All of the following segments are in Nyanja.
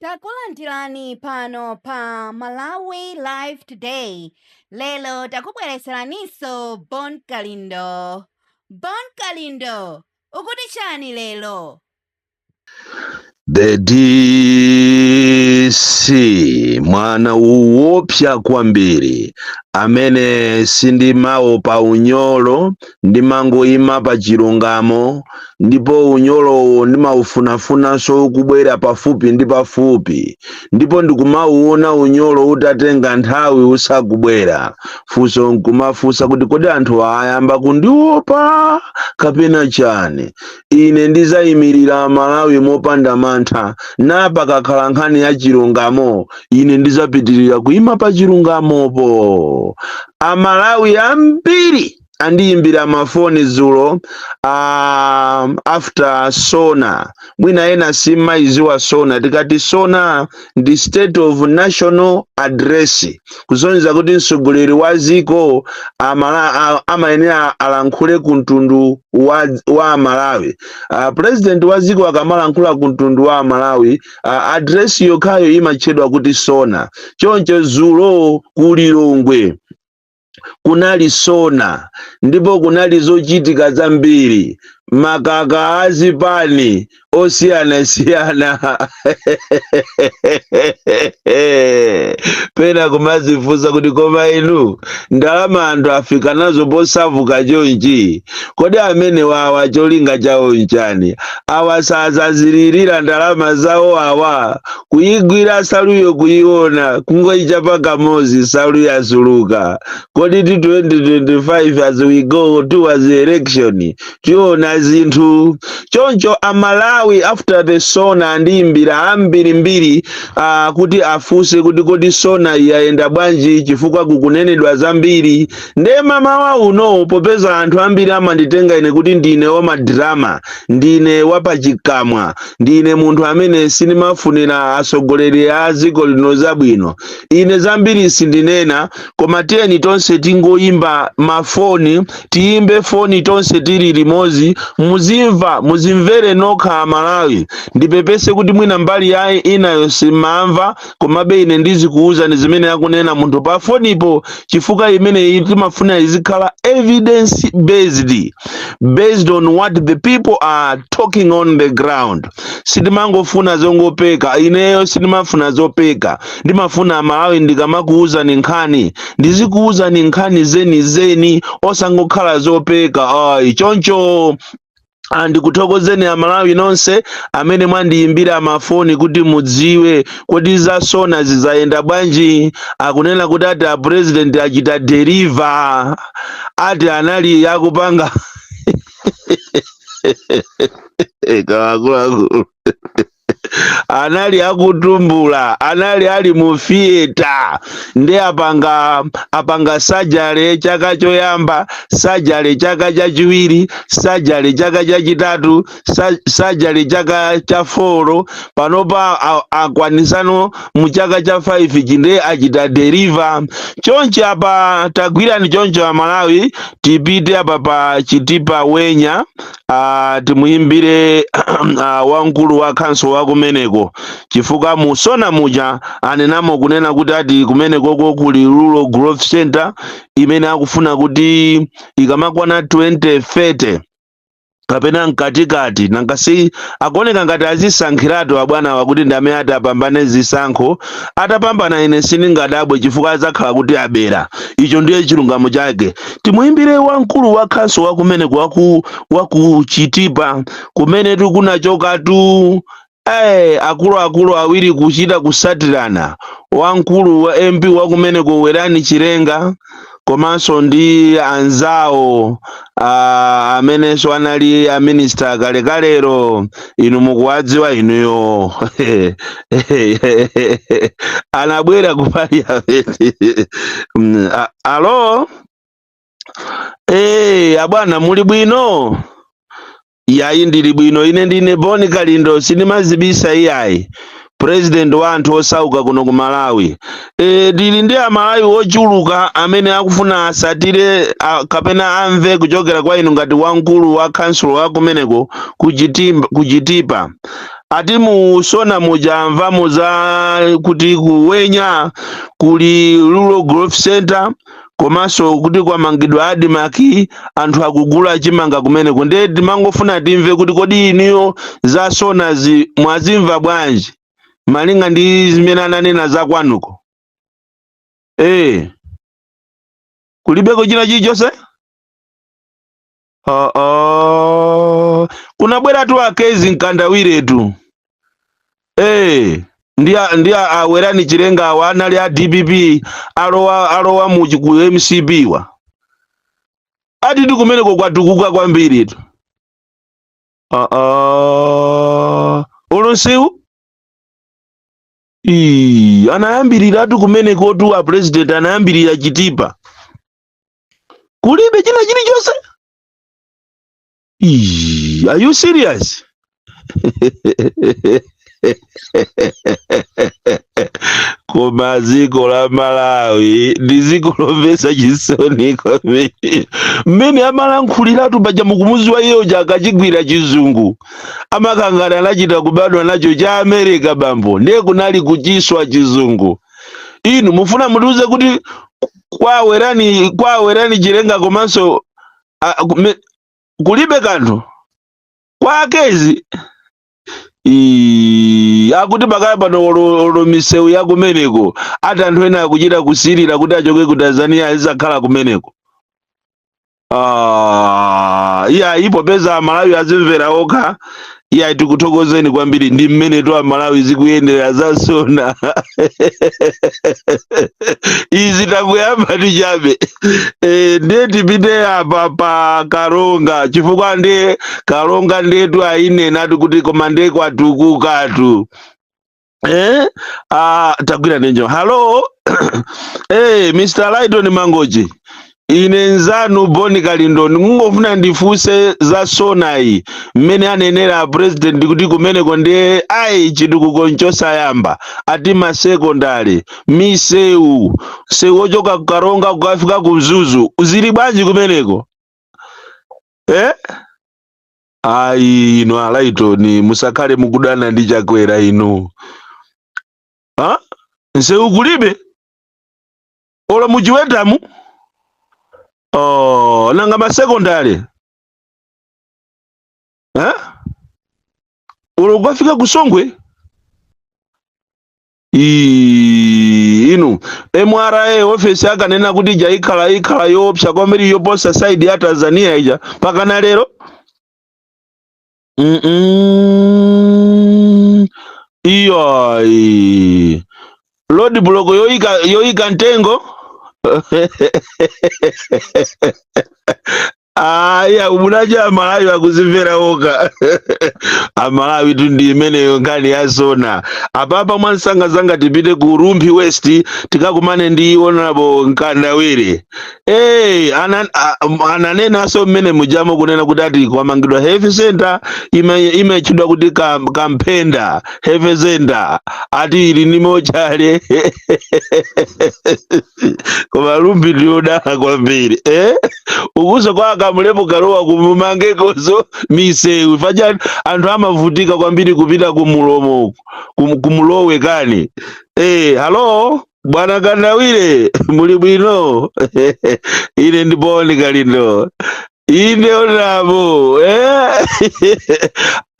Takulandirani pano pa Malawi Live Today. Lero takubweretseraninso Bon Kalindo. Bon Kalindo, ukuti chani lero? The DC mwana owopsa kwambiri amene sindimawopa unyolo ndimangoima pa chilungamo ndipo unyolowo ndimaufunafunanso ukubwera pafupi ndi pafupi ndipo ndikamauona unyolo utatenga nthawi usakubwera funso nkumafunsa kuti kodi anthu ayamba kundiopa kapena chani ine ndizayimirira amalawi mopanda mantha na pakakhala nkhani ya chilungamo ine ndizapitirira kuima pa chilungamopo amalawi ambiri andiyimbira mafoni dzulo ah, after sona mwina ena simumayiziwa sona tikati sona ndi state of national address kusonyeza kuti mtsogoleri wa dziko amala- a- amayenera alankhule ku mtundu wa, wa amalawi uh, president wa dziko akamalankhula ku mtundu wa amalawi uh, address yokhayo imatchedwa kuti sona choncho dzulo ku lilongwe kunali sona ndipo kunali zochitika zambiri makaka a zipani osiyanasiyana pena kumazifunsa kuti koma inu ndalama anthu afika nazo posavuka chonchi kodi amenewawa cholinga chawo nchani awa sazazilirira ndalama zawo awa kuyigwira nsaluyo kuyiona kungoyichapa kamodzi nsalu yasuluka kodi 2025 as we go towards the election tiona zinthu choncho amalawi after the sona andiyimbira ambirimbiri uh, kuti afunse kuti kodi sona iyayenda bwanji chifukwa kukunenedwa zambiri nde mamawa uno popeza anthu ambiri amanditenga ine kuti ndine wamadrama ndine wapachikamwa Ndine munthu amene sindimafunira atsogoleri a dziko lino zabwino. Ine zambiri sindinena, koma tiyeni tonse tingoyimba mafoni, tiyimbe foni tonse tili limodzi, muzimva, muzimvere nokha Amalawi. Ndipepese kuti mwina mbali yayinayo simumva, komabe ine ndizikuwuzani zimene akunena munthu pa fonipo chifukwa imeneyi timafuna izikhala evidence based based on what the people are talking on the ground sindimangofuna zongopeka ineyo sindimafuna zopeka ndimafuna amalawi ndikamakuwuzani nkhani ndizikuwuzani nkhani zeni zeni osangokhala zopeka ayi choncho andikuthokozeni aMalawi nonse amene mwandiyimbira mafoni kuti mudziwe kodi za SONA zizayenda bwanji akunena kuti ati a president achita deliver ati anali yakupanga akuluakulu anali akutumbula anali ali mu theater nde apanga surgery chaka choyamba surgery chaka chachiwiri surgery chaka chachitatu surgery chaka cha foro panopa a- akwanisano mu chaka cha 5 chinde achita deliver chonchi apa tagwirani choncho aMalawi tipite apa pa Chitipa Wenya ah, timuyimbire ah, wamkulu wa khonsolo wa kumeneko chifukwa mu SONA muja anenamo kunena kuti ati kumenekoko kuli rural growth center imene akufuna kuti ikamakwana 2030 kapena mkatikati nanga si akuoneka ngati azisankhiratu abwanawa kuti ndi amene ati apambane zisankho atapambana ine sindingadabwe chifukwa adzakhala kuti abera icho ndiye chilungamo chake timuimbire wamkulu wa khonsolo wa kumeneko waku Chitipa kumenetu kunachokatu eh akuluakulu awiri kuchita kutsatirana wamkulu wa MP wa kumeneko Werani Chilenga komanso ndi anzawo ah, amenenso anali aminista kalekalero inu mukuwadziwa inuyo anabwera ku parliament Mm, a- alo Eh, abwana muli bwino yayi ndili bwino ine ndine Bon Kalindo sindimazibisa iyayi president wa anthu osauka kuno ku Malawi e, tili ndi aMalawi ochuluka amene akufuna atsatire a, kapena amve kuchokera kwa inu ngati wamkulu wa khonsolo wa kumeneko ku Chitipa ati mu SONA muja amvamo za kuti ku Wenya kuli rural growth center komanso kuti kwamangidwa ADMARC anthu akugula chimanga kumeneko ndiye timangofuna timve kuti kodi inuyo za SONA-zi mwazimva bwanji malinga ndi zimene ananena za kwanuko ee kulibeko china chilichonse Ah, ah. kunabweratu a Kezzie Mkandawiretu Eh, ndi a- ndi a- a Werani Chilenga awa anali a DPP alowa mu chi- ku MCP-wa atitu kumeneko kwatukuka kwambiritu Ah, ah. ulunsiwu Ii, anayambiratu kumenekotu a president anayambirira Chitipa kulibe china chilichonse Ii, are you serious koma dziko la malawi ndi dziko lomvetsa chisoni kwambiri mmene amalankhuliratu paja mukumuziwa iyeyo akachigwira chizungu amakhangati anachita kubadwa nacho cha america bambo ndiye kunali kuchiswa chizungu inu mufuna mutiuze kuti kwa Werani kwa Werani chilenga komanso a- kume- kulibe kanthu kwa a Kezzie Ii, akuti pakali pano olo olo misewu ya kumeneko ati anthu ena akuchita kusirira kuti achoke ku tanzania azikakhala kumeneko Ah, iya popeza amalawi azimvera okha iya tikuthokozeni kwambiri ndi mmenetu amalawi zikuyendera za SONA izi ndakuyambatu chabe e, ndiye tipite apa pa karonga chifukwa ndiye karonga ndiyetu ayinenatu kuti koma ndiye kwatukukatu eh? ah, tagwira ndi nyo halo eh, mr lighton mangochi ine nzanu Bon Kalindo ndikungofuna ndifunse za SONA yi mmene anenera president kuti kumeneko ndiye ayi chitukuko nchosayamba ati masekondari misewu sewu ochoka kukaronga kukafika ku mzuzu zili bwanji kumeneko eh? ayi inu a Lighton musakhale mukudana ndi chakwera inu ha nsewu kulibe olo mu Chiwetamu oh, nanga masekondale ha olo kukafika ku Songwe Ii, inu mra ofesi akanena kuti ija ikhala ikhala yoopsa kwambiri yoposa saidi ya tanzania ija mpakana lero Mm-mm. iyayi road block yoyika yoyika mtengo ayi amva nadya amalawi akuzimvera okha amalawitu ndi imeneyo nkhani ya SONA apapa mwansangasanga tipite ku rumphi west tikakumane ndi honorable mkandawire hey, ana, a- m- ananenanso mmene mujamu kunena kuti ati kwamangidwa health center ime- imatchedwa kuti kam- Kamphenda health center ati ili nnimo chale koma Rumphi ndiyodala kwambiri eh? ukuso kwa a Kamlepo Kalua kumumangekoso misewu paja anthu amavutika kwambiri kupita kumulomo uku kum- ku Mlowe kani eh, halo bwana Kandawire muli bwino ine ndi Bon Kalindo inde onabo eh?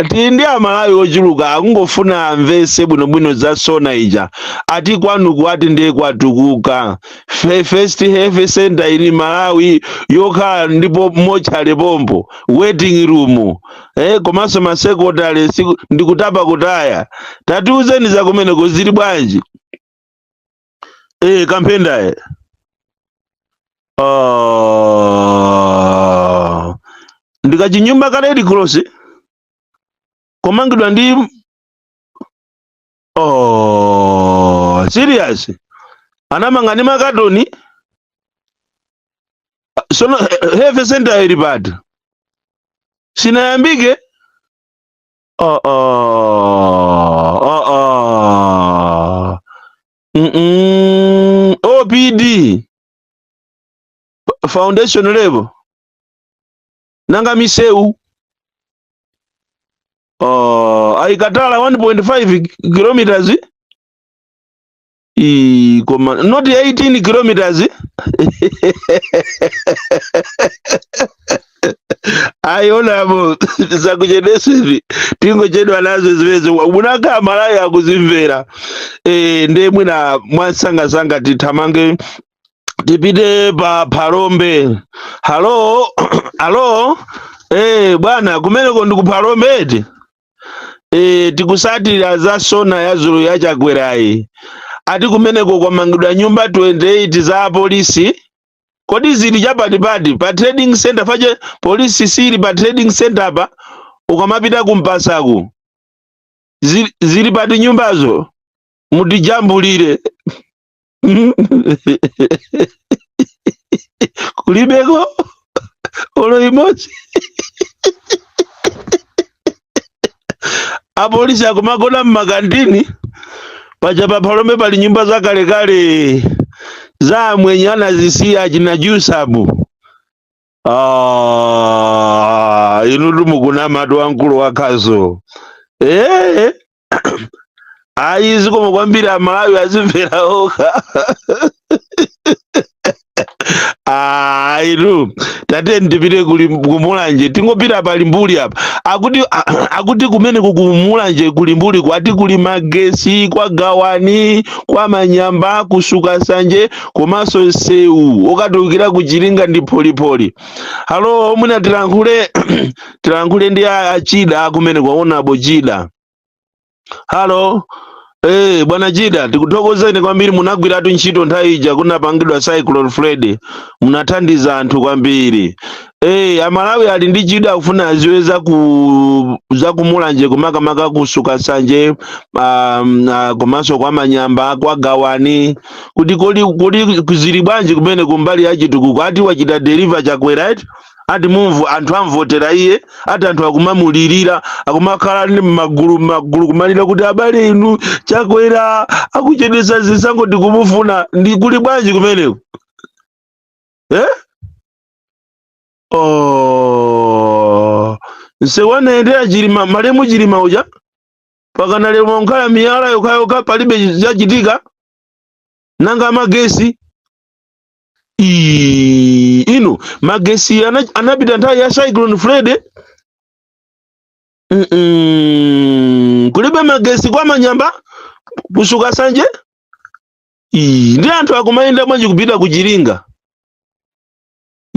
ti ndi amalawi ochuluka akungofuna amvese bwinobwino za sona ija ati kwanuku ati ndiye kwatukuka Fe- first health center in Malawi yokhala ndipo mochale pompo waiting room eh, komanso masekondale siku- ndikutapa kutaya tatiuzeni zakumeneko zili bwanji eh Kamphenda eh Ah, ndikachinyumba ka red cross komangidwa ndi oh, serious anamanga ndi makatoni sono health center ili pati sinayambike Uh uh. Uh uh. Mm-mm. OPD. F- Foundation level. Nanga miseu. Uh, aikatala 1.5 kilometers. Ii, koma not 18 kilometers ayi onabo zakuchedesezi tingochedwa nazo zimenezi munaka malawi akuzimvera e, ndiye mwina mwansangasanga tithamange tipite pa Phalombe halo halo e, bwana kumeneko ndi ku Phalombe eti e, tikusatira za sona ya dzulo ya Chakwerayi ati kumeneko kwamangidwa nyumba 28 za apolisi kodi zili chapatipati pa trading center paja polisi siili pa trading center pa ukamapita ku Mpasaku zili, zili pati nyumbazo mutijambulire kulibeko olo imodzi apolisi akumagona mmakantini paja pa Phalombe pali nyumba zakalekale za amwenye anazisiya achina Jusabu Ah, inu timukunamatu wamkulu wakhazo ee ayi zikomo kwambiri amalawi azimvera okha Ah, inu tatiyeni tipite kuli ku Mulanje tingopita pa Limbuli apa akuti a- akuti kumeneku ku Mulanje ku Limbuli kwati kuli magesi kwa Gawani kwa Manyamba ku Sukasanje komanso msewu okatulukira ku Chiringa ndi pholipholi halo o mwina tilankhule tilankhule ndi a- a Chida kumene kwa onabo Chida halo Eh, bwana Chida, tikuthokozeni kwambiri munagwiratu ntchito nthawi ija kunapangidwa Cyclone Freddy. Munathandiza anthu kwambiri. Hey, eh, amalawi ali ndi chidwi akufuna aziwe za ku za kumulanje kumakamaka kusuka sanje um, uh, komanso kwa manyamba kwa gawani kuti kodi kodi zili bwanji kumene kumbali ya chitukuko ati wachita deliver chakwera eti ati mumvu anthu amvotera iye ati anthu akumamulirira akumakhala ndi magulu magulu kumalira kuti abale inu chakwera akuchedwesa zisankho tikumufuna ndi kuli bwanji kumeneko eh? oh msewu anayendera chilima malemu chilima uja pakana lero mwakhala miyala yokhayokha palibe zachitika nanga magesi Ii, inu magesi ana- anapita nthawi ya cyclone freddy Mm-mm. kulibe magesi kwa manyamba kusuka sanje Ii, ndi anthu akumayenda bwanji kupita ku chiringa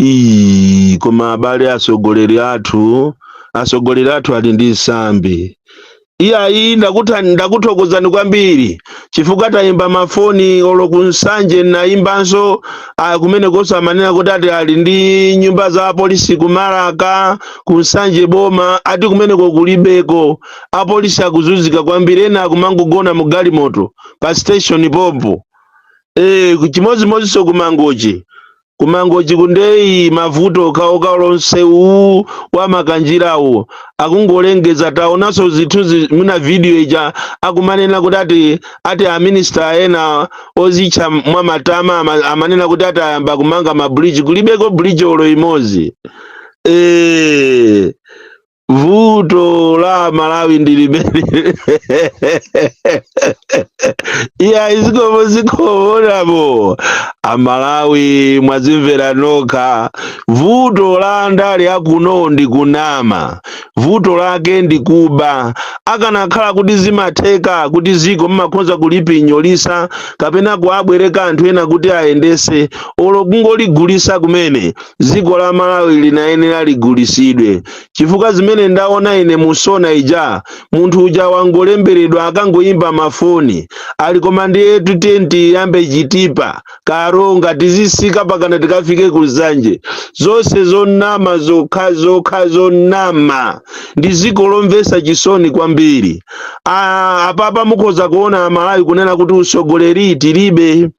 Ii, koma abale atsogoleri athu atsogoleri athu ali ndi nsambi iyayi ndakutha ndakuthokozani kwambiri chifukwa tayimba mafoni olo ku nsanje nayimbanso ah, kumenekonso amanena kuti ati ali ndi nyumba za apolisi ku malaka ku nsanje boma ati kumeneko kulibeko apolisi akuzunzika kwambiri ena akumangogona mu galimoto pa station pompo eh chimozimoziso kumangochi kumangochi kundeyi mavuto okhaokha nsewu uwu wa makanjirawu akungolengeza taonanso zithunzi mwina video ija akumanena kuti ati ati aminista ena ozitcha mwa matama ama- amanena kuti ati ayamba kumanga mabridge kulibeko bridge olo imodzi eh vuto la amalawi ndi limene iyayi zikomo zikomo apo amalawi mwazimvera nokha vuto la andale akuno ndi kunama vuto lake ndi kuba akanakhala kuti zimatheka kuti ziko mumakhoza kulipinyolisa kapena kuabwereka anthu ena kuti ayendese olo kungoligulisa kumene dziko la malawi linayenera ligulisidwe chifukwa zimene ndaona ine mu sona ija munthu uja wangolemberedwa akangoyimba mafoni ali koma ndiyetu tiye tiyambe chitipa karonga tizisika pakana tikafike ku nsanje zonse zonama zokha zokha zonama ndi dziko lomvesa chisoni kwambiri Ah, apapa mukhoza kuona amalawi kunena kuti utsogoleri tilibe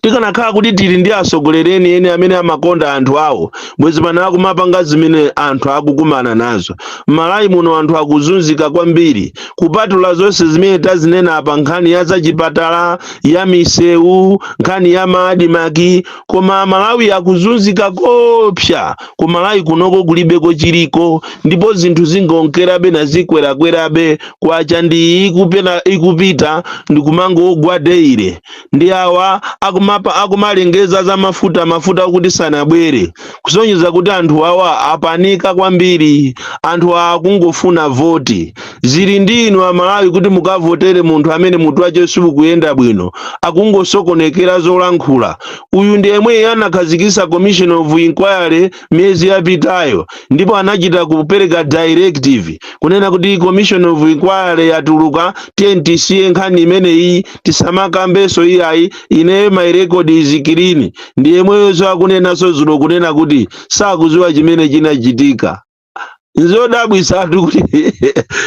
tikanakhala kuti tili ndi atsogoleri enieni amene amakonda anthu awo bwezi pano akumapanga zimene anthu akukumana nazo m'malawi muno anthu akuzunzika kwambiri kupatula zonse zimene tazinena apa nkhani ya zachipatala ya misewu nkhani ya maadimaki koma malawi akuzunzika kopsa ku malawi kunoko kulibeko chiliko ndipo zinthu zingonkerabe nazikwerakwerabe kwacha ndi ikupita ndikumangogwa daily ndi awa akumalengeza za mafuta mafuta okuti sanabwere kusonyeza kuti anthu awa apanika kwambiri anthu awa akungofuna voti zili ndi inu amalawi kuti mukavotere munthu amene mutu wace siwukuyenda bwino akungosokonekera zolankhula uyu ndi yemwe anakhazikisa commission of inquiry miyezi yapitayo ndipo anachita kupereka directive kunena kuti commission of inquiry yatuluka tiye tisiye nkhani imeneyi tisamakambenso iyayi ineyo my record is clean ndi yemweyoso akunenanso zulo kunena kuti sakuziwa chimene chinachitika nzodabwitsatu kuti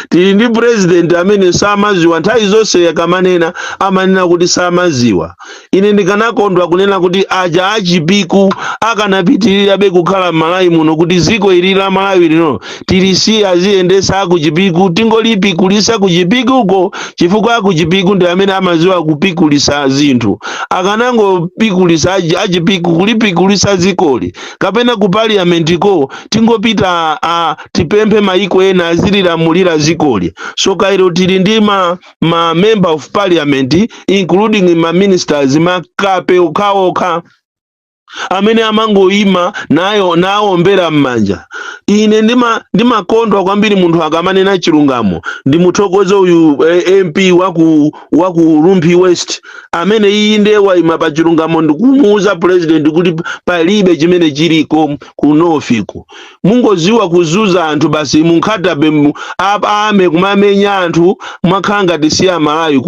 tili ndi president amene samaziwa nthawi zonse akamanena amanena kuti samaziwa ine ndikanakondwa kunena kuti aja achipiku akanapitirirabe kukhala m'malawi muno kuti ziko ili la malawi lino tilisiye aziyendesa akuchipiku tingolipikulisa kuchipikuko chifukwa akuchipiku ndi amene amaziwa kupikulisa zinthu akanangopikulisa achipiku kulipikulisa zikoli kapena ku parliament ko tingopita a tipemphe maiko ena azililamulira zikoli so kairo tili ndi ma, ma member of parliament including ma ministers makape okhaokha amene amangoyima nawombera m'manja ine ndimakondwa kwambiri munthu akamanena chilungamo ndimuthokoze uyu eh, mp wa ku wa ku Rumphi West amene iye ndiye waima pa chilungamo ndikumuuza president kuti palibe chimene chiliko ku north ku mungoziwa kuzunza anthu basi munkhatabe army kumamenya anthu mwakhala ngati si amalawi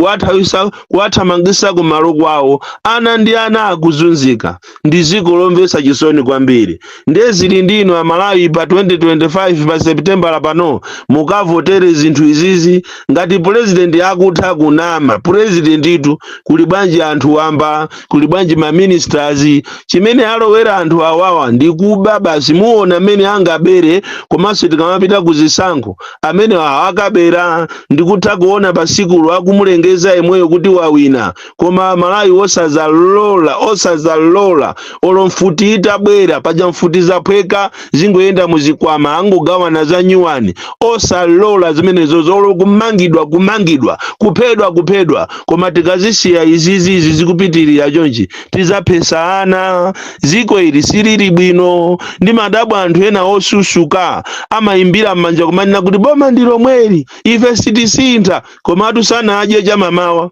kuwathamangisa kumalo kwawo ana ndi ana akuzunzika ndi dziko lomvetsa chisoni kwambiri ndiye zili ndi inu amalawi pa 2025 pa septembala pano mukavotere zinthu izizi ngati purezidenti akutha kunama purezidentitu kuli bwanji anthu wamba kuli bwanji maministers chimene alowera anthu awawa ndi kuba basi kuona mmene angabere komanso tikamapita ku zisankho amene akabera ndikutha kuona pasikulo akumulengeza yemweyo kuti wawina koma amalawi osazalola osazalola olo mfuti itabwera paja mfuti zaphweka zingoyenda muzikwama angogawana za nyuwani osalola zimenezo olo kumangidwa kumangidwa kuphedwa kuphedwa koma tikazisiya izizizi zikupitirira chonchi tizaphetsa ana ziko ili silili bwino ndimadabwa anthu ena osusuka amayimbira m'manja kumanena kuti boma ndi lomweli ife sitisintha komatu sanadye chamamawa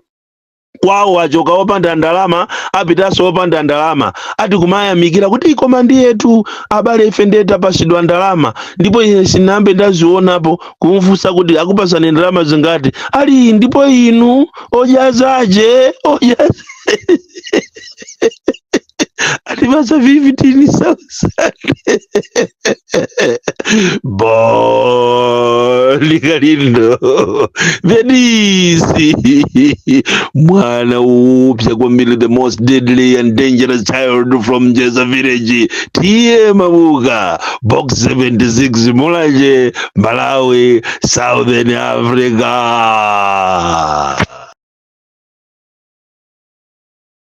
kwawo achoka opanda ndalama apitanso opanda ndalama ati kumayamikira kuti koma ndiyetu abale ife ndiye tapasidwa ndalama ndipo ine sinambe ndazionapo kumfunsa kuti akupasani ndalama zingati ali ndipo inu odyazaje atipasa 15,000 boli kalindo venisi mwana upya kwambiri the most deadly and dangerous child from jeza village tiye mabuka box 76 mulanje malawi southern africa